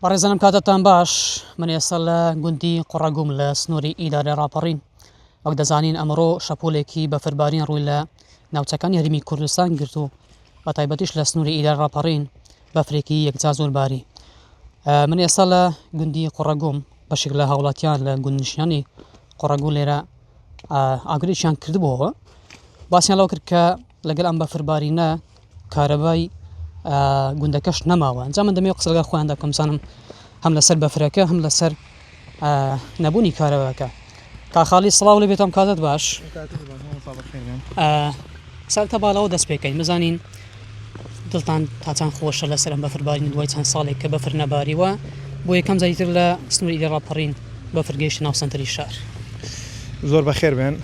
بەڕێزانم کاتتان باش من ئێستا لە گوندی قوڕەگوم لە سنووری ئیدارە ڕاپەڕین وەک دەزانین ئەمڕۆ شەپۆلێکی بەفربارین ڕووی لە ناوچەکانی هەرمی کوردستان گرت و بە تایبەتیش لە سنووری ئیدارە ڕاپەڕین بەفرێکی یەکجا زۆر باری من ئێستا لە گوندی قوڕەگوم بەشێک لە هاوڵاتیان لە گوندنشیانی قوڕەگو لێرە ئاگرێکیان کردبووەوە باسییان لەو کرد کە لەگەل ئەم بەفربارینە کارەبای گوندەکەش نەماوە جا من دەمێ قسە لەگەڵ خۆیان دەکەم زانم هەم لەسەر بەفرەکە هەم لەسەر نەبوونی کارەباکە کا خاڵی سڵاو لە بێتم کاتت باش ساکتە باڵەوە دەست پێکەین مەزانین دڵتان تاچان خۆشە لەسەر ئەم بەفربارین دوای چەند ساڵێک کە بەفر نەباریوە بۆ یەکەم زیتر لە سنووری لە ڕاپەڕین بەفرگەیشت ناو سنتری شار زۆر بەخێر بێن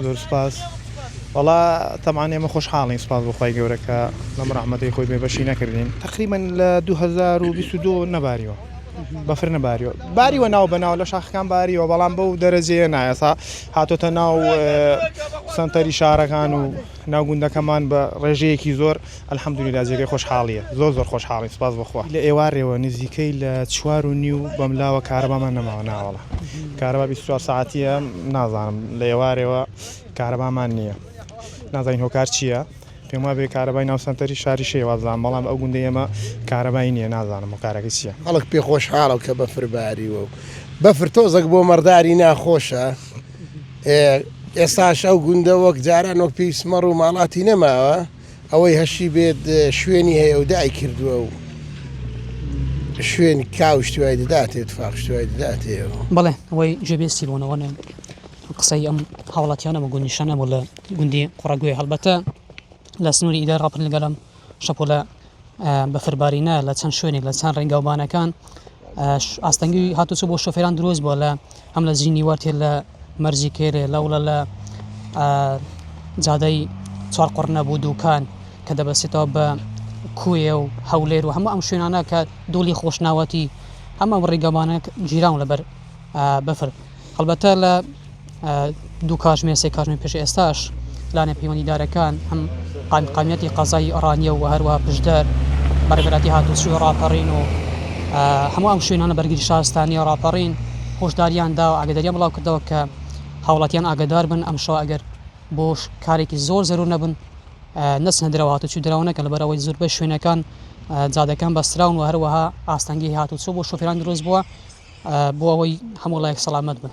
زۆر سوپاس وەڵا تەبعەن ئێمە خۆشحاڵین سوپاس بۆ خوای گەورە کە لەم ڕەحمەتەی خۆی بێبەشی نەکردین تەقریبەن لە 2022 نەباریەوە بەفر نەباریەوە باریوە ناو بەناو لە شاخەکان باریەوە بەڵام بەو دەرەجەیە نایەسا هاتۆتە ناو سنتەری شارەکان و ناو گوندەکەمان بە ڕێژەیەکی زۆر الحمدللە جێگەی خۆشحاڵیە زۆر زۆر خۆشحاڵین سوپاس بۆ خوا لە ئێوارێوە نزیکەی لە چوار و نیو بەملاوە کارەبامان نەماوە ناوەڵا کارەبا بیست و چوار سەعاتیە نازانم لە ئێوارێوە کارەبامان نییە نازانین هۆکار چییە پێم وابێ کارەبای ناو سەنتەری شاری شێوازدان بەڵام ئەو گوندەی ئێمە کارەبای نییە نازانم هۆکارەکە چییە. خەڵک پێ خۆشحاڵە کە بەفر باریوە و بەفر تۆزەک بۆ مەڕداری ناخۆشە. ئێستاش ئەو گوندە وەک جاران وەک پێویست مەڕ و ماڵاتی نەماوە ئەوەی هەشی بێت شوێنی هەیە و دای کردووە و شوێن کاوشتوای دەداتێت فاخشتوای دەداتێەوە بڵێ ئەوەی جێبێستی بۆنەوەە قسەی ئەم هاوڵاتیانەمە گونیشانەمە لە گوندی قوڕگوێ هەڵبەتە لە سنووری ئیدای ڕاپن لەگەڵم شەپۆلە بەفربارینە لە چەند شوێنێک لە چەند ڕێگاوبانەکان ئاستەنگی هاتوچۆ بۆ شۆفێران دروست بووە لە هەم لە زینی وەرتێ لە مەرزی کێرێ لەوڵە لە جادەی چوار قڕنە بوو دووکان کە دەبەسێتەوە بە کوێ و هەولێر و هەموو ئەم شوێنانە کە دوڵی خۆشناوەتی هەمە ڕێگەمانە گیران لەبەر بەفر هەڵبەتە لە دوو کاتژمێر سێ کاتژمێر پێش ئێستاش لانە پەیوەندیدارەکان هەم قایمقامیەتی قەزای ئۆڕانیە و هەروەها پشدەر بەڕێبەراتی هاتوچی و ڕاپەڕین و هەموو ئەم شوێنانە بەرگری شارستانی و ڕاپەڕین هۆشداریان دا و ئاگداریان بڵاو کردەوە کە هاوڵاتیان ئاگدار بن ئەم شەوە ئەگەر بۆ کارێکی زۆر زەرور نەبن نەچنە درەوە هاتوچی درەوەنەکە لە بەرەوەی زۆربەی شوێنەکان جادەکان بەستراون و هەروەها ئاستەنگی هاتوچۆ بۆ شوفێران دروست بووە بۆ ئەوەی هەموو ڵایەک سەڵامەت بن.